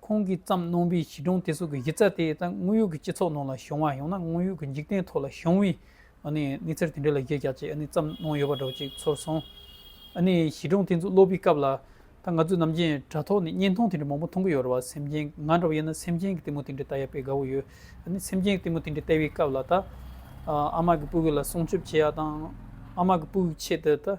ཁོང་གིས་བརྩམས་གནང་པའི་གཞི་གྲངས་དེ་ཚོ་གི་གཞི་རྩ་དེ་དང་དངོས་ཡོད་ཀྱི་སྤྱི་ཚོགས་ནང་ལ་བྱུང་བ་ཡང་ན་དངོས་ཡོད་ཀྱི་འཇིག་རྟེན་ཐོག་ལ་བྱུང་བའི་གནས་ཚུལ་དེ་འདྲ་ལ་བརྗོད་བྱ་ཅིག་བརྩམས་གནང་ཡོད་པ་འདྲ་བོ་ཅིག་ཚོར་སོང། གཞི་གྲངས་དེ་ཚོ་ཀློག་པའི་སྐབས་ལ། ད་ང་ཚོས་ནམ་རྒྱུན་དྲ་ཐོག་ནས་བརྙན་ཐུང་དེ་འདྲ་མང་པོ་མཐོང་གི་ཡོད་རེད་བ་སེམས་ཅན་ང་འདྲ་བ་ཡིན་ན་སེམས་ཅན་གྱི་གཏི་མུག་དེ་འདྲ་བལྟ་ཡག་པའི་དགའ་བོ་ཡོད། སེམས་ཅན་གྱི་གཏི་མུག་དེ་འདྲ་བལྟ་བའི་སྐབས་ལ་ད། ཨ་མ་གི་སྤུ་གུ་ལ་སྲུང་སྐྱོབ་བྱེད་ཡག་དང། ཨ་མ་གི་སྤུ་གུ་ཆེད་དུ་ད།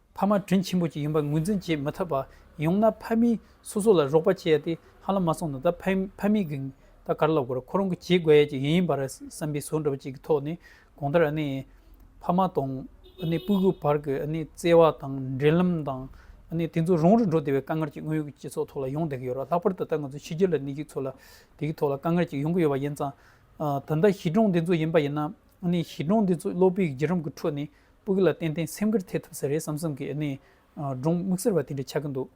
ཕ་མ་དྲིན་ཆེན་པོ་གཅིག་ཡིན་པར་ངོས་འཛིན་བྱེད་མི་ཐུབ་པ་ཡོང་ན་ཕ་མིས་སོ་སོ་ལ་རོགས་པ་བྱས་ཏེ་ཧ་ལམ་མ་སོང་ན་ད་ཕ་མིས་གིས་ད་གར་ལོག་དགོས་ཁོ་རང་གིས་བྱེད་དགོས་ཡས་ཀྱི་ཡིན་པ་རེད་བསམ་པའི་ཟུར་འདྲ་བ་གཅིག་གི་ཐོག་ནས་གང་ལྟར་ཕ་མ་དང་སྤུན་གུ་བར་གྱི་བརྩེ་བ་དང་འབྲེལ་ལམ་དང་དེ་ཚོ་རང་རེ་འགྲོ་བདེ་བའི་དཀའ་ངལ་གྱི་དངོས་ཡོད་ཀྱི་སྤྱི་ཚོགས་ཐོག་ལ་ཡོང་བསྡད་ཀྱི་ཡོད་ར་ལྷག་པར་དུ་ད་ང་ཚོ་ཕྱི་རྒྱལ་ལ་གནས་ཀྱི་ཚོ་ལ་དེ་གི་ཐོག་ལ་དཀའ་ངལ་གྱི་ཡོང་གི་ཡོད་པ་ཡིན་ཙང་ད་ལྟ་གཞི་གྲངས་དེ་ཚོ་ཡིན་པ་ཡིན་ན་གཞི་གྲངས་དེ་ཚོ་བློ་སྤོས་ཀྱི་བརྒྱུད་རིམ་གྱི་ཁྲོད་ནས་སྤུག་ལ་ཏན་ཏན་སེམས་ཁུར་ཐེབས་ཐུབ་ས་རེད་བསམ་བསམ་གི་ནས་སྒྲུང་དམིགས་བསལ་བ་དེ་འདྲ་ཆགས་ཀྱི་འདུག་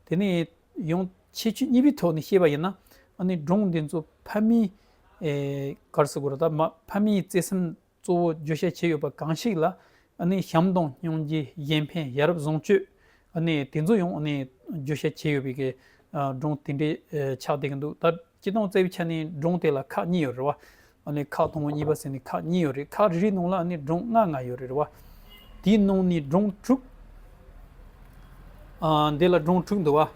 དེ་ནས་ཡང་ཁྱད་ཆོས་གཉིས་པའི་ཐོག་ནས་བཤད་པ་ཡིན་ན། སྒྲུང་འདི་ཚོ་ཕ་མིའི་གར་སོགས་ཀྱི་འོག་ཕ་མིའི་བརྩེ་སེམས་གཙོ་བོ་བརྗོད་བྱ་བྱས་ཡོད་པ་གང་ཞིག་ལ། བྱམས་དང་སྙིང་རྗེ་གཞན་ཕན་ཡ་རབས་བཟང་སྤྱོད་དེ་ཚོ་ཡང་བརྗོད་བྱ་བྱས་ཡོད་པའི་སྒྲུང་དེ་འདྲ་ཆགས་བསྡད་ཀྱི་འདུག་ད། སྐྱི་སྟོང་རྩེ་བའི་ཆ་ནས་སྒྲུང་དེ་ལ་ཁག་གཉིས་ཡོད་རེད་བ། ཨཱ་ཁག་ཐུང་ངུ་གཉིས་པ་ཟེར་ནས་ཁག་གཉིས་ཡོད་རེད་ཁག་རེ་རེའི་ནང་ལ་ཨཱ་སྒྲུང་ལྔ་ལྔ་ཡོད་རེད་བ། དེའི་ནང་ནས་སྒྲུང་དྲུག། འདི་ལ་སྒྲུང་དྲུག་འདུག་བ།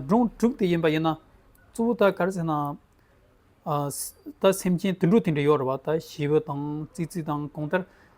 སྒྲུང་དྲུག་དེ་ཡིན་པ་ཡིན་ན། གཙོ་བོ་ད་ག་རེ་ཟེར་ན། ད་སེམས་ཅན་དུད་འགྲོ་དེ་འདྲ་ཡོད་རེད་བ་ད་བྱེའུ་དང་ཙི་ཙི་དང་གང་ལྟར།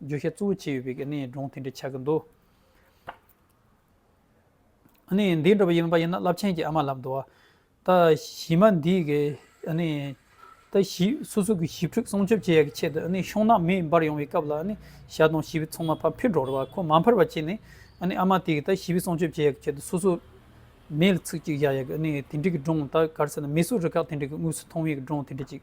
བརྗོད་བྱ་གཙོ་བོ་བྱས་ཡོད་པའི་གནས་སྒྲུང་དེ་འདྲ་ཆགས་ཀྱི་འདུག་འདི་འདྲ་བ་ཡིན་པ་ཡིན་ན་རླབས་ཆེན་གྱི་ཨ་མ་ལབ་འདུག་ཨ། ད་གཞི་མ་འདིས་ཀྱི་ད་གཞི་སོ་སོ་གྱི་ཞིབ་འཁྲུག་སྲུང་སྐྱོབ་བྱེད་ཡག་གི་ཆེད་དུ་ཤོང་ནག་མི་འབར་ཡོང་བའི་སྐབས་ལ་ཞྭ་དང་ཞི་བའི་ཚོང་མ་ཕ་འཕེར་འགྲོ་རུ་ཁོ་མ་འཕར་བ་བྱས་ནས་ཨ་མ་དེས་ཀྱི་ད་ཞི་བའི་སྲུང་སྐྱོབ་བྱེད་ཡག་གི་ཆེད་དུ་སོ་སོ་མེ་ལ་ཚིག་གཅིག་བཞག་ཡག་གི་དེ་འདྲི་གི་སྒྲུང་ད་གར་སེ་ན་མི་སུ་རི་ཁག་དེ་འདྲི་གི་དངོས་སུ་མཐོང་བའི་སྒྲུང་དེ་འདྲི་གཅིག་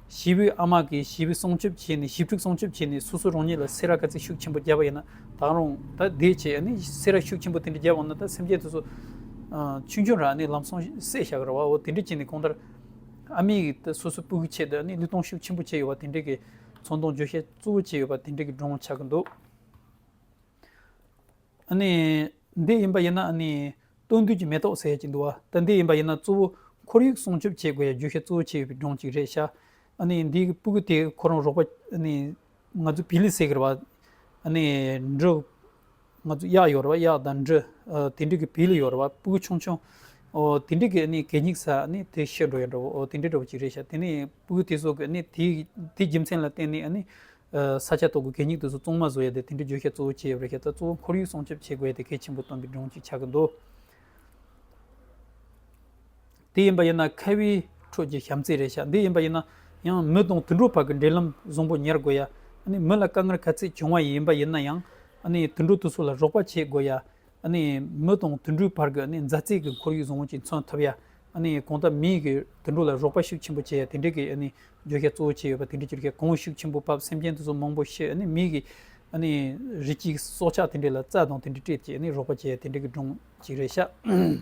བྱིས་པའི་ཨ་མ་གིས་བྱིས་པའི་སྲུང་སྐྱོབ་བྱས་ནས་ཞིབ་ཕྲུག་སྲུང་སྐྱོབ་བྱས་ནས་སོ་སོ་རང་ཉིད་ལ་སེ་ར་དཀའ་ཚེགས་ཤུགས་ཆེན་པོ་བརྒྱབ་པ་ཡིན་ན་ད་རུང་ད་དེ་བྱས་ནས་སེ་ར་ཤུགས་ཆེན་པོ་དེ་འདྲ་བརྒྱབ་འོང་ན་ད་སེམས་ཅན་དེ་ཚོ་ཆུང་ཆུང་རང་ནས་ལམ་སང་བསད་བཞག་ར་བའོ་དེ་འདྲ་བྱས་ནས་གང་ལྟར་ཨ་མས་ད་སོ་སོའི་སྤུ་གི་ཆེད་དུ་ལུས་གཏོང་ཤུགས་ཆེན་པོ་བྱས་ཡོད་པ་དེ་འདྲ་གི་ཚོང་དོང་བརྗོད་བྱ་གཙོ་བོ་བྱས་ཡོད་པ་དེ་འདྲ་གི་སྒྲུང་ཆགས་ཀྱི་འདུག། འདི་ཡིན་པ་ཡིན་ན། སྟོན་དུས་ཀྱི་མེ་ཏོག་ཟས་ཀྱི་འདུ་བ། ད་འདི་ཡིན་པ་ཡིན་ན་གཙོ་བོ་ཁོར་ཡུག་སྲུང་སྐྱོབ་བྱེད་དགོས་ཡ་རྒྱུ་ཤ་གཙོ་བོ་བྱེད་ཡོད་པའི་སྒྲུང་གཅིག་རེད་ཤག། འདིའི་སྤུ་གུ་དེ་ཁོ་རང་རོགས་པ། ང་ཚོ་བི་ལི་སེ་གི་ར་བ། འབྲུ། ང་ཚོ་གཡག་ཡོད་ར་བ་གཡག་དང་འབྲུ། དེ་འབྲུ་གི་བི་ལི་ཡོད་ར་བ་སྤུ་གུ་ཆུང་ཆུང། དེ་འབྲུ་གི་གད་སྙིགས་ས་དེ་ཤི་འགྲོ་ཡོད་འགྲོ་བོ་དེ་འདྲའི་འགྲོ་བ་གཅིག་རེད་ཤག་དེ་ནས་སྤུ་གུ་དེ་ཚོ་གི་དེའི་རྒྱུ་མཚན་ལ་བརྟེན་ནས། ས་ཆ་ཐོག་གི་གད་སྙིགས་དུས་སུ་བཙོང་མ་བཟོ་ཡ་དེ་དེ་འདྲའི་བརྗོད་བྱ་གཙོ་བོ་ཅི་ཡོད་པ་རེད་ཤ་ཚ་གཙོ་བོ་ཁོར་ཡུག་སྲུང་སྐྱོབ་བྱེད་དགོས་ཡ་དེ་གལ་ཆེན་པོ་སྟོན་པའི་སྒྲུང་ཅིག་ཆགས་ཀྱི་འདུག་དེ་ཡིན་པ་ཡིན་ན་ཁ་བའི་ཁྲོད་ཀྱི་བྱམས་བརྩེ་རེད་ཤ་འདི་ཡིན་པ་ཡིན་ན་ཡང་མི་དང་དུད་འགྲོ་བར་གྱི་འབྲེལ་ལམ་བཟང་པོ་ཉར་དགོས་ཡ། མི་ལ་དཀའ་ངལ་ག་ཚད་བྱུང་བ་ཡིན་པ་ཡིན་ན་ཡང་དུད་འགྲོ་དུས་སུ་ལ་རོགས་པ་བྱེད་དགོས་ཡ། མི་དང་དུད་འགྲོའི་བར་གྱི་མཛའ་བརྩེ་གྱི་ཁོར་ཡུག་བཟང་བོ་ཅིག་མཚོན་ཐུབ། གང་ལྟར་མིའི་རིགས་ཀྱིས་དུད་འགྲོ་ལ་རོགས་པ་ཤུགས་ཆེན་པོ་བྱས་ཡ་དེ་འདྲའི་གྱི་བརྗོད་བྱ་གཙོ་བོ་བྱས་ཡོད་པ་དེ་འདྲའི་བརྗོད་བྱ་གང་ཤུགས་ཆེན་པོ་བབས་སེམས་ཅན་དེ་ཚོ་མང་པོ་ཤི་མིའི་གྱི་རི་སྐྱེས་སྲོག་ཆགས་དེ་འདྲའི་ལ་རྩ་དང་དེ་འདྲའི་སྤྲད་ཀྱི་རོགས་པ་བྱས་ཡ་དེ་འདྲའི་གྱི་སྒྲུང་ཅིག་རེད་ཤག།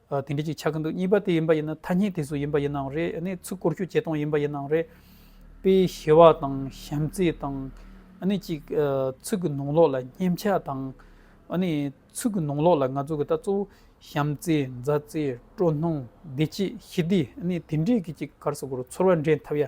དེ་འདྲ་ཅིག་ཆགས་ཀྱི་འདུག་གཉིས་པ་དེ་ཡིན་པ་ཡིན་ན་ཐ་སྙད་དེ་སུ་ཡིན་པ་ཡིན་ནའང་རེད་ཨ་ནི་ཚུར་བསྐོར་ཞུ་བྱེད་སྟངས་ཡིན་པ་ཡིན་ནའང་རེད། དཔེ་ཞི་བ་དང་ཞམ་རྩེས་དང། ཨ་ནི་གཅིག་ཚུགས་ཀྱི་ནང་ལོགས་ལ་སྙེམས་ཆ་དང། ཨ་ནི་ཚུགས་ཀྱི་ནང་ལོགས་ལ་ང་ཚོ་གི་ད་གཙོ་བོ་ཞམ་རྩེས་མཛའ་བརྩེ་སྤྲོ་སྣང་བདེ་སྐྱིད་ཞི་བདེ་ཨ་ནི་དེ་འདྲས་ཀྱི་ཅིག་གར་སོ་གོར་ཚོར་བ་འདྲེན་ཐབས་ཡ